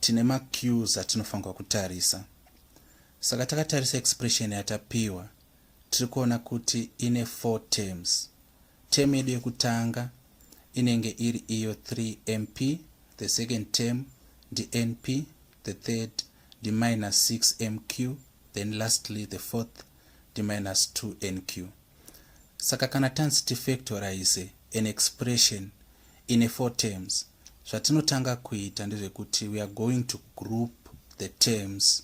Tine macues atinofanirwa kutarisa. Saka takatarisa expression yatapiwa tiri kuona kuti ine four terms. Term yedu yekutanga inenge iri iyo 3 mp, the second term ndinp, the third ndiminus 6 mq, then lastly the fourth ndiminus 2 nq. Saka kana tanzi tifactorize an expression ine four terms, Zvatinotanga kuita ndezvekuti we are going to group the terms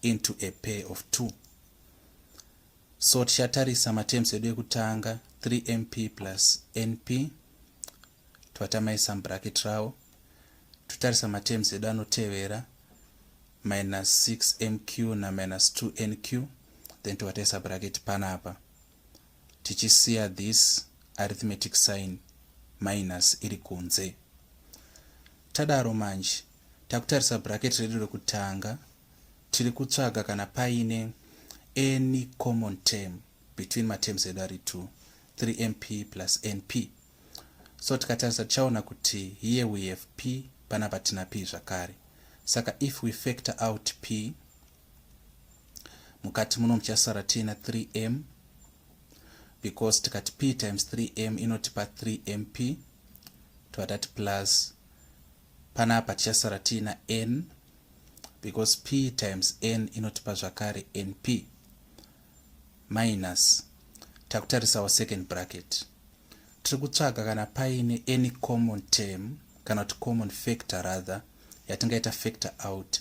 into a pair of two. So tichatarisa matems edu ekutanga 3mp plus np twatamaisa mubracket rawo totarisa matems edu anotevera minus 6mq naminus 2nq then towataisa bracket panapa tichisiya this arithmetic sign minus iri kunze tadaro manje takutarisa bracket redu rekutanga tiri kutsvaga kana paine any common term between materms edu ari 2 3mp plus np so tikatarisa tichaona kuti here we have p panapa tina p zvakare saka if we factor out p mukati muno muchasara tiina 3m because tikati p times 3m inotipa 3mp tova tati plus panapa tichasara tiina n because p times n inotipa zvakare np minus takutarisawo second bracket tiri kutsvaga kana paine any common term kana kuti common factor rather yatingaita factor out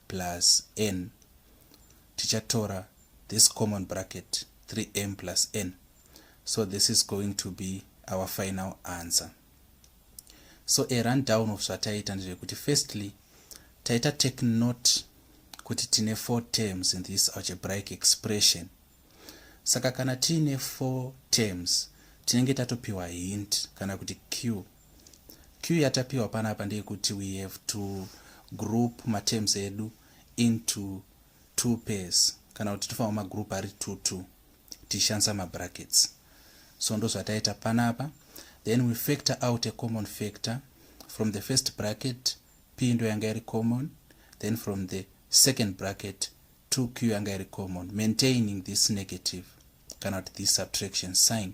plus n tichatora this common bracket 3m plus n so this is going to be our final answer so a run down of zvataita ndezvekuti firstly taita take note kuti tine four terms in this algebraic expression saka kana tiine four terms tinenge tatopiwa hint kana kuti q Cue yatapiwa panapa ndeyekuti we have to group materms edu into two pairs kana kuti tofanirwa magroup ari two two tichishandisa mabrackets so ndozvataita panapa then we factor out a common factor from the first bracket p ndo yanga iri common then from the second bracket 2q yanga iri common maintaining this negative kana kuti this subtraction sign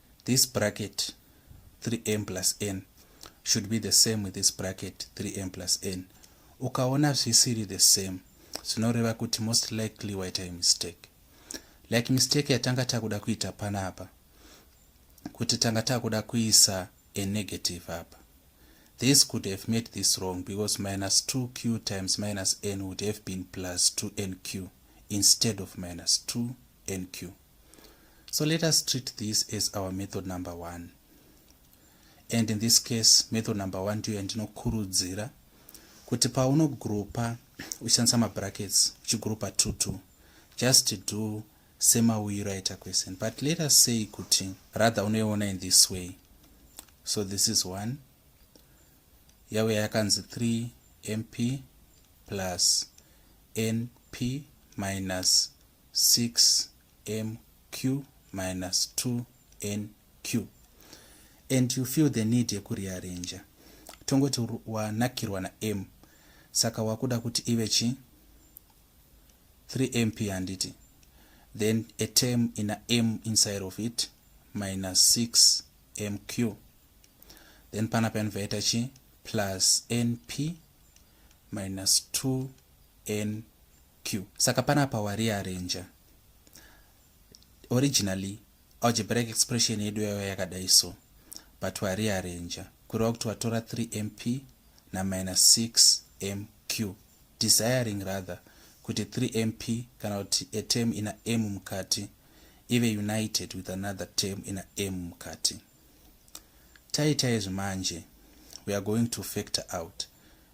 this bracket 3m plus n should be the same with this bracket 3m plus n ukaona zvisiri the same zvinoreva kuti most likely waita mistake like mistake yatanga takuda kuita panapa kuti tanga takuda kuisa a negative apa this could have made this wrong because minus 2q times minus n would have been plus 2nq instead of minus 2nq So let us treat this as our method number one. And in this case, method number one ndiyo yandinokurudzira kuti paunogroupa uchishandisa mabrackets uchigroupa two two just do semauyiro aita question but let us say kuti rather unoiona in this way so this is one yave yakanzi 3 mp plus np minus 6mq minus 2nq and you feel the need yekurearranger tongoti wanakirwa nam saka wakuda kuti ive chi 3mp handiti then a term ina m inside of it minus 6mq then pana painvaita chi plus np minus 2nq Q. Saka panapa wariarenja. Originally algebraic expression yedu yaiva yakadai so but wariarenja kureva kuti watora 3 mp na minus 6 mq desiring rather kuti 3 mp kana kuti a term ina m mukati ive united with another term ina m mukati taita izvi manje we are going to factor out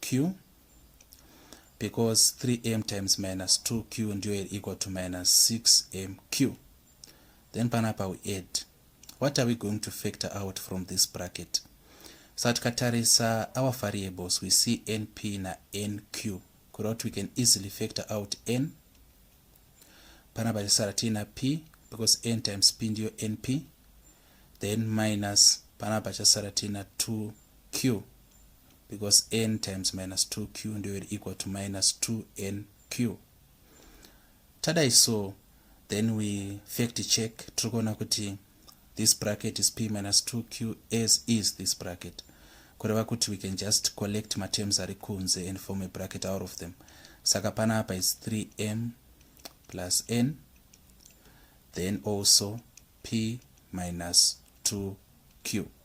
q because 3m times minus 2q ndiyo iri equal to minus 6mq then panapa we add what are we going to factor out from this bracket saka tikatarisa our variables we see np na nq kureva kuti we can easily factor out n pana pachisara tiina p because n times p ndiyo np then minus pana pachasara tiina 2q because n times minus 2q ndiyo iri equal to minus 2nq tadai so then we fact check tiri kuona kuti this bracket is p minus 2q as is this bracket kureva kuti we can just collect matems ari kunze and form a bracket out of them saka pana apa is 3m plus n then also p minus 2q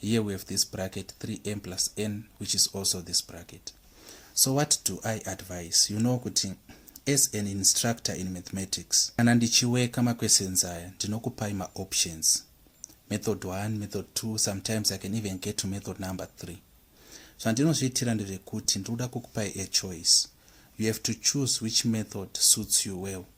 here we have this bracket 3m plus n which is also this bracket so what do i advise you know kuti as an instructor in mathematics kana ndichiweka maquestions aya ndinokupai maoptions method 1 method 2 sometimes i can even get to method number 3 zvandinozviitira ndezvekuti ndiri kuda kukupai a choice you have to choose which method suits you well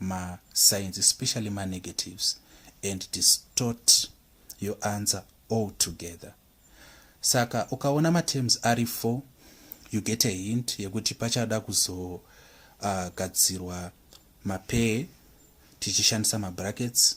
ma signs especially ma negatives and distort your answer all together saka ukaona ma terms ari 4 you get a hint yekuti pachada kuzogadzirwa uh, mapee tichishandisa mabrackets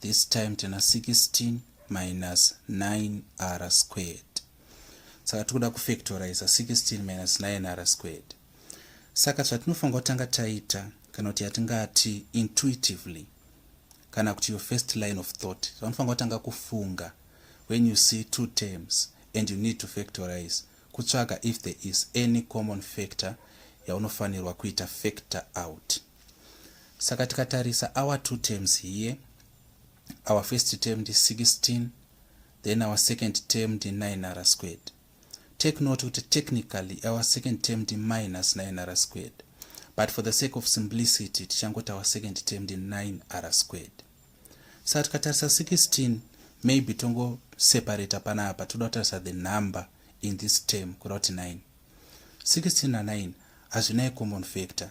this time tena 16 minus 9 r squared saka tikuda kufactoriza 16 minus 9 r squared saka zvatinofanira kutanga taita kana kuti yatingati intuitively kana kuti your first line of thought zvanofanira kutanga kufunga when you see two terms and you need to factorize kutsvaga if there is any common factor yaunofanirwa kuita factor out saka tikatarisa our two terms here our first term ndi 16 then our second term ndi 9 r squared take note kuti technically our second term ndi minus 9 r squared but for the sake of simplicity tichangoti our second term ndi 9 r squared saka tikatarisa 16 maybe tongo separata panapa toda kutarisa the number in this term kuda kuti 9 16 na 9 hazvinaye common factor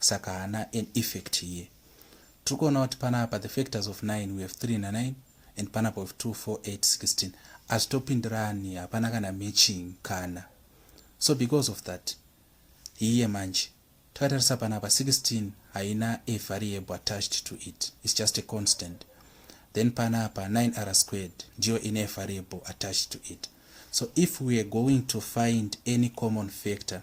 saka haana an effect here tiri kuona kuti panapa the factors of 9 we have 3 na 9 and panapa we have 2 4 8 16 hazvitopindirani hapana kana matching kana so because of that hiye manje takatarisa panapa 16 haina a variable attached to it its just a constant then panapa 9 r squared ndiyo ine variable attached to it so if we are going to find any common factor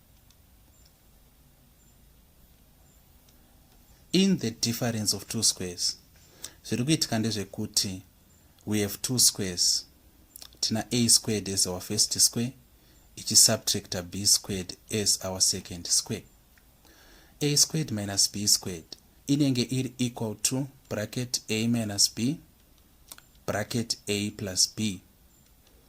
in the difference of two squares zviri kuitika ndezvekuti we have two squares tina a squared as our first square ichisubtracta b squared as our second square a squared minus b squared inenge iri equal to bracket a minus b bracket a plus b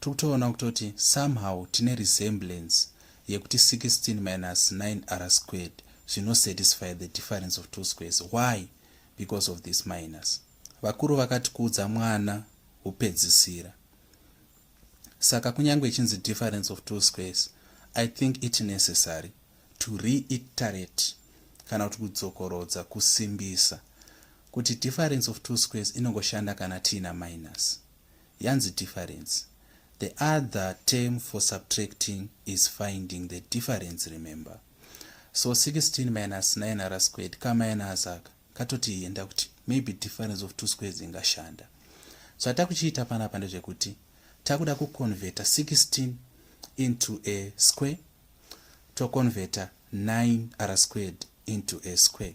Tikutoona kutoti somehow tine resemblance yekuti 16 minus 9 r squared zvino satisfy the difference of two squares why because of this minus vakuru vakati kuudza mwana hupedzisira saka kunyange ichinzi difference of two squares i think it necessary to reiterate kana kuti kudzokorodza kusimbisa kuti difference of two squares inongoshanda kana tiina minus Yanzi difference. The other term for subtracting is finding the difference remember. So 16 minus 9 ara squared ka minus aka katoti enda kuti maybe difference of two squares ingashanda. So atakuchiita panapa ndezvekuti takuda kuconverta 16 into a square toconverta 9 ara squared into a square.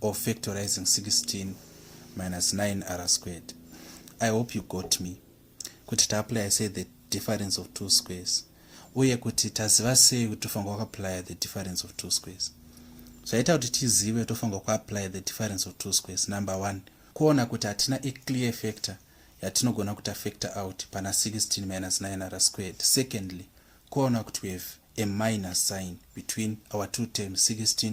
or factorizing 16 minus 9 r squared i hope you got me kuti taapply say the difference of two squares uye kuti taziva sei kuti tofanira kuapply the difference of two squares zvaita kuti tizive tofanira kuapply the difference of two squares number one kuona kuti hatina a clear factor yatinogona kuti afactor out pana 16 minus 9 r squared secondly kuona kuti we have a minus sign between our two terms 16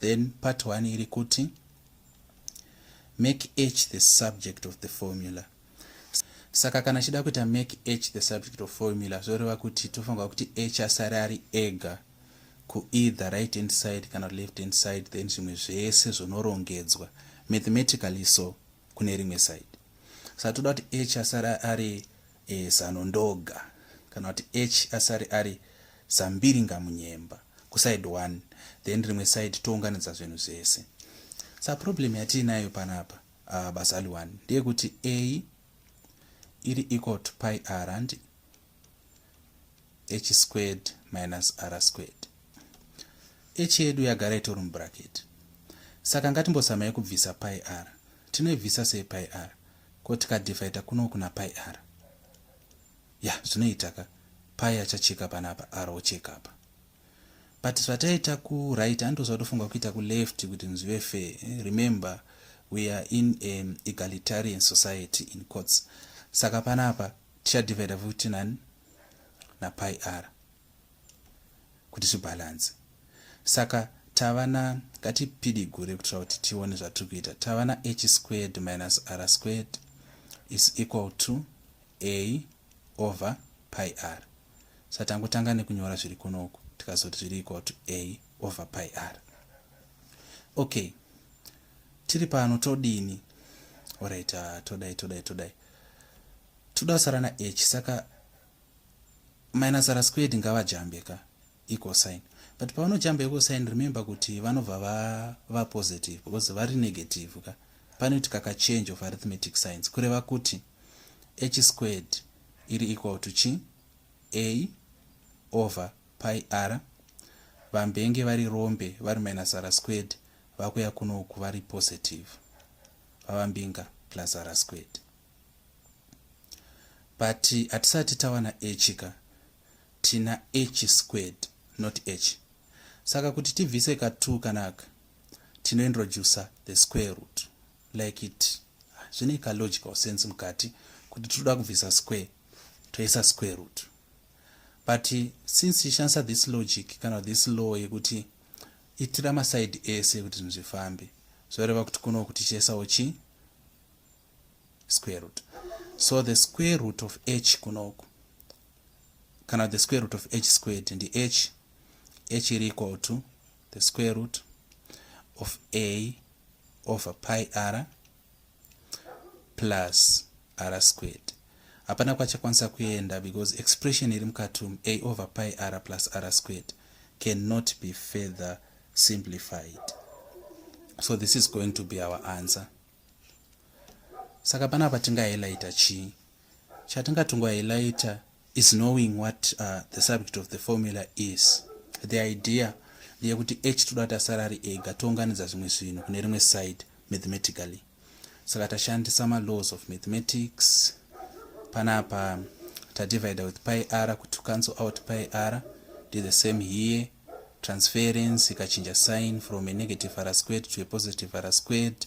Then part one iri kuti make h the subject of the formula. Saka kana chida kuita make h the subject of formula zvoreva kuti tofanirwa kuti h asare ari ega ku either right hand side kana left hand side then zvimwe zvese zvonorongedzwa mathematically so kune rimwe side saka toda kuti h asare ari e, zano ndoga kana kuti h asare ari zambiringa munyemba kuside one then rimwe side tounganidza zvinhu zvese saka problem yatiinayo panapa uh, bazali one ndeyekuti a iri equal to pi r handi h squared minus r squared h yedu yagara itori mubracket saka ngatimbosamai kubvisa pi r tinoibvisa sei pi r ko tikadifaita kuno kuna pi r ya zvinoitaka pai achacheka panapa r ocheka apa but zvataita kuright andoziva tofunga kuita kuleft kuti nzvive fair eh, remember we are in an egalitarian society in courts saka panapa tichadivaida futi nani napi r kuti zvibhalansi saka tava na ngatipidigure kuitira kuti tione zvatiri kuita tava na h squared minus r squared is equal to a over pi r sa tangotanga nekunyora zviri kunoku tikazoti zviri equal to a over pi r okay tiri pano todini orit uh, todai todai todai toda kusara na h saka minus r squared ngavajambe ka ecosign but pavanojamba ecosign remember kuti vanobva vava va positive because vari negative ka panoiti kaka change of arithmetic science kureva kuti h squared iri equal to chi a over pi r vambenge vari rombe vari minus r squared vakuya kunoku vari positive baba mbinga plus ara squared but hatisati tawana h ka tina h squared not h saka kuti tibvise ka 2 kanaka tinointroducer the square root like it zvine ka logical sense mukati kuti tinoda kubvisa square toisa square root but since tishandisa this logic kana this law yekuti itira masaidi ese kuti zvinhu zvifambe zvoreva kuti kuno kutichesawo chi square root so the square root of h kunoku kana the square root of h squared ndi h h iri equal to the square root of a over pi r plus r squared hapana kwachakwanisa kuenda because expression iri mukati umu a over pi r plus r squared cannot be further simplified so this is going to be our answer saka panapa tingahighlighta chii chatingatongohighlighta is knowing what uh, the subject of the formula is the idea ndeyekuti h toda kuti asara ari ega tounganidza zvimwe zvinhu kune rimwe side mathematically saka tashandisa malaws of mathematics panapa tadivider with pi r kuti cancel out pi r do the same here transference ikachinja sign from a negative r squared to a positive r squared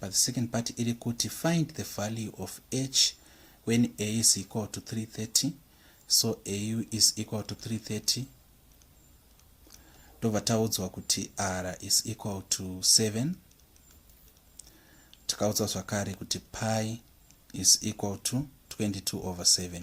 but the second part iri kuti find the value of h when a is equal to 330 so au is equal to 330 ndobva taudzwa kuti r is equal to 7 takaudzwa zvakare kuti pi is equal to 22 over 7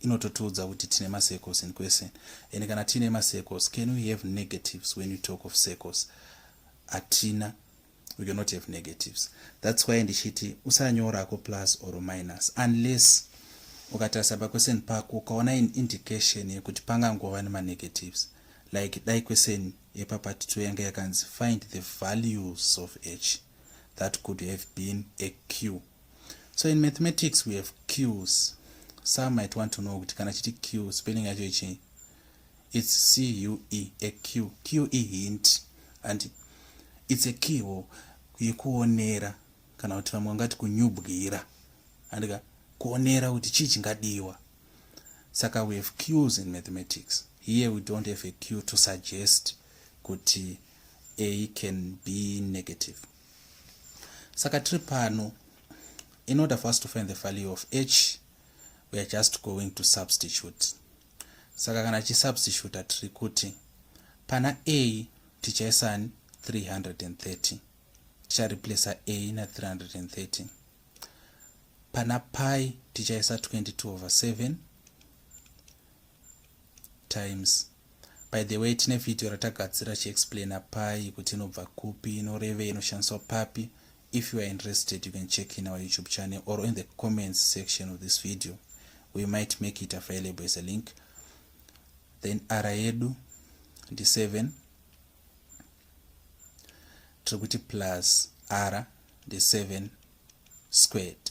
inototiudza kuti tine macircles in question and kana tiine macircles can we have negatives when you talk of circles hatina we cannot have negatives thats why ndichiti usanyorako plus or minus unless ukatarisa pakweseni pako ukaona in indication yekuti pangangova nemanegatives like dai kweseni yepapati two yanga yakanzi find the values of h that could have been a q so in mathematics we have qs some might want to know kuti kana chiti q spelling yacho ichii it's cue a q q e hint and it's a keyhole yekuonera kana kuti vamwe vangati kunyubwira andika kuonera kuti chii chingadiwa saka we have qs in mathematics here we don't have a q to suggest kuti a can be negative saka tiri pano in order for us to find the value of h we are just going to substitute saka kana chisubstituta tiri kuti pana a tichaisani 330 tichareplacer a na 330 pana pi tichaisa 22 over 7 times By the way tine video ratagadzira chiexplaina pai kuti inobva kupi inorevei inoshandiswa papi if you are interested you can check in our youtube channel or in the comments section of this video we might make it available as a link then ara yedu ndi 7 tiri kuti plus ara ndi 7 squared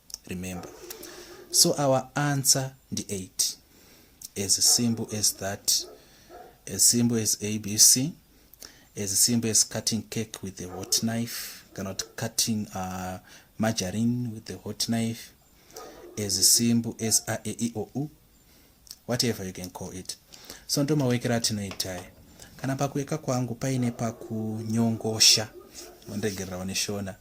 remember so our answer ndi 8 as simple as that as simple as abc as simple as cutting cake with a hot knife cannot cutting uh, margarine with a hot knife as simple as a e i o u whatever you can call it so ndo mawekera atinoitaya kana pakuweka kwangu paine pakunyongosha mondegererawo neshona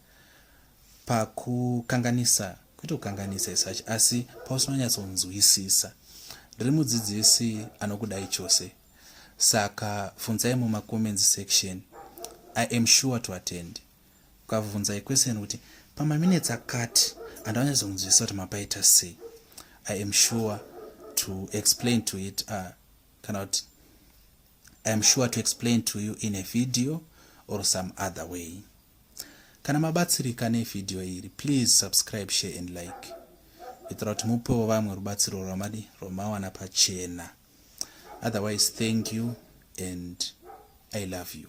pakukanganisa kwete kukanganisa isachi asi pausinonyatsonzwisisa ndiri mudzidzisi anokudai chose saka funzai mumacomments section i am sure to attend ukavhunzai question kuti pamaminetsi akati andanyatsonzwisisa kuti mapaita sei i am sure to explain to it uh, kana kuti i am sure to explain to you in a video or some other way Kana mabatsirika nevideo iri, please subscribe, share and like kuitira kuti mupewo vamwe rubatsiro rwamadi rwamawana pachena. Otherwise, thank you and I love you.